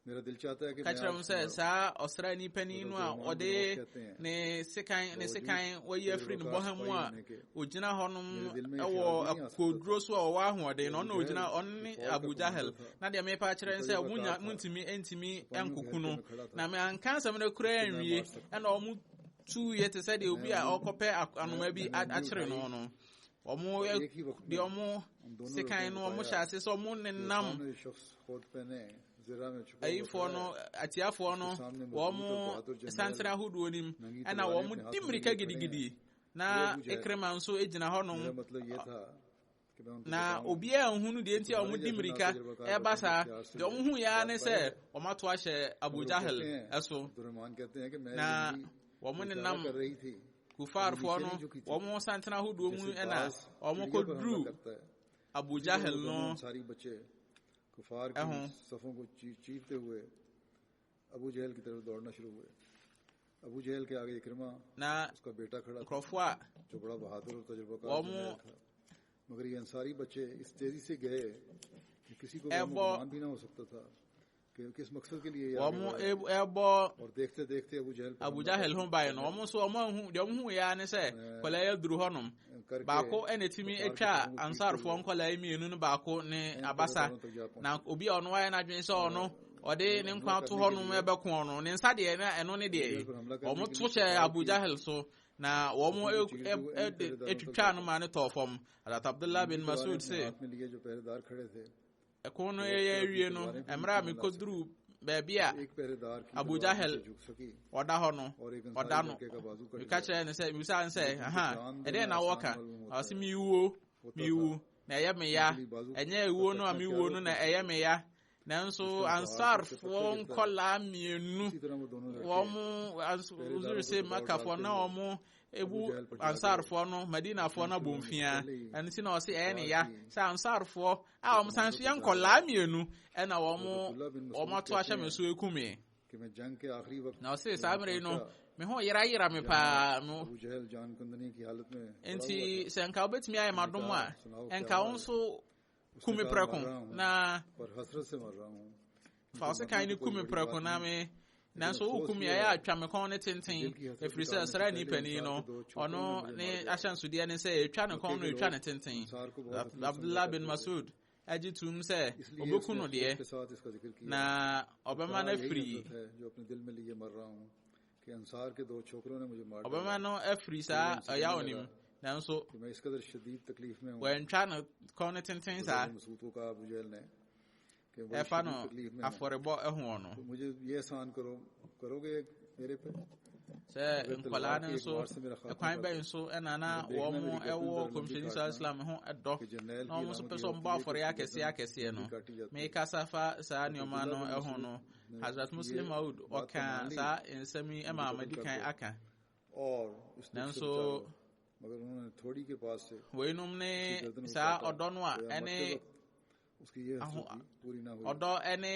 [SPEAKER 2] ka kyerɛ m sɛ saa ɔsraani panin no a ɔde ne sekan ne sekan wayi afiri ne bɔha mu a ogyina hɔnom wɔ akokoduro so a ɔwɔ ahoɔden na ɔna ogyina ɔne abu jahel na deɛ mepa kyerɛ sɛ monya montumi ntumi nkoko no na meanka asɛm no koraa nwie ɛna ɔmo tuiɛ te sɛ deɛ obi a ɔkɔpɛ anoma bi akyere no no ɔmo deɛ ɔmo sekan no ɔmo hyɛ ase sɛ ɔmo nenam ayifoɔ no atiafoɔ no wɔn santena ahodoɔ nim ɛna wɔn di mmirika gidigidi Na Ikrima nso gyina hɔnom. Na obiara nhu no deɛ nti a wɔde mmirika ɛreba saa. Deɛ wɔn hu yɛ ara ne sɛ wɔn ato ahyɛ Abu Jahal ɛso. Na wɔn nenam kufaarfoɔ no wɔn santena ahodoɔ mu ɛna wɔn kɔ duru Abu Jahal no ɛho. Na nkurɔfoɔ a wɔrebɔ Abu Jahal ho ban no, wɔn nso wɔanhu deɛ wɔhuiɛ ara ne sɛ nkwadaa yi aduru hɔnom. Baako na ɛtumi atwa Ansarfoɔ nkwadaa yi mmienu no baako ne abasa. Na obi a ɔno ayɛ n'adwene sɛ ɔno ɔde ne nkwa to hɔ nom bɛko no ne nsa deɛ na ɛno ne deɛ wɔn to hyɛ abu jahil so na wɔn twitwa no ma no tɔɔ fam adat abdullah bin masud se ɛko no yɛyɛ awie no mmerɛ a mekɔduru baabi a abu jahil ɔda hɔ no ɔda no meka kyerɛ ne sɛ mebisa ne sɛ aha ɛdeɛ na wɔka ɔse mewuo mewu na ɛyɛ meya ɛnyɛ ɛwuo no a mewuo no na ɛyɛ meya nanso ansarfoɔ nkɔlaa mmienu wɔn ɔsoro sɛ makafoɔ na wɔn ebu ansarfoɔ no madinafoɔ no abɔ mfia ɛno ti na ɔsɛ ɛyɛ ne ya sɛ ansarfoɔ a wɔn san so yɛ nkɔlaa mmienu ɛna wɔn wɔn ato ahyɛ me so eku me na ɔsɛ saa mmere no me ho yera yera me paa no nti sɛ nka wobɛtumi ayɛ m'adom a nka wo nso ku me prɛko na fa wo sekan no ku me prɛko na me nanso woku me ɛyɛ atwa me kɔn ne tenten ɛfiri sɛ sra nipani no ɔno ne ahyɛnsodeɛ ne sɛ ɛtwa ne kɔn no ɛtwa ne tenten abdullah bin masud agye tom sɛ ɔbɛku no deɛ na ɔbɛma no afiri Ɔbɛma no afiri saa ɔyaw no mu, nanso wɔantwa no kɔn no tenten saa. Ɛfa no afɔrebɔ ho no. Sɛ nkwadaa no nso, ɛkwan bɛn nso ɛna na wɔn ɛwɔ kɔmhyɛni sɔrɔ islam ho ɛdɔ na wɔn nso pɛ sɛ wɔn bɔ afɔre akɛseɛ akɛseɛ no. Mekasa fa saa nneɛma no ho no. Hazrat Muslim Maud ɔka saa nsɛm yi ma madi kan aka nanso weinom ne saa ɔdɔ no a ɛne ɔdɔ ɛne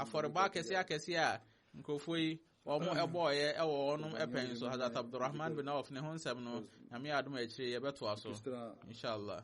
[SPEAKER 2] afɔrebɔ akɛseɛ akɛseɛ a nkurɔfoɔ yi wɔn ɛbɔɔyɛ ɛwɔ wɔnom ɛpɛn so hazrat abdurrahman bin auf ne ho nsɛm no nyame adom akyire yɛbɛtoa so inshallah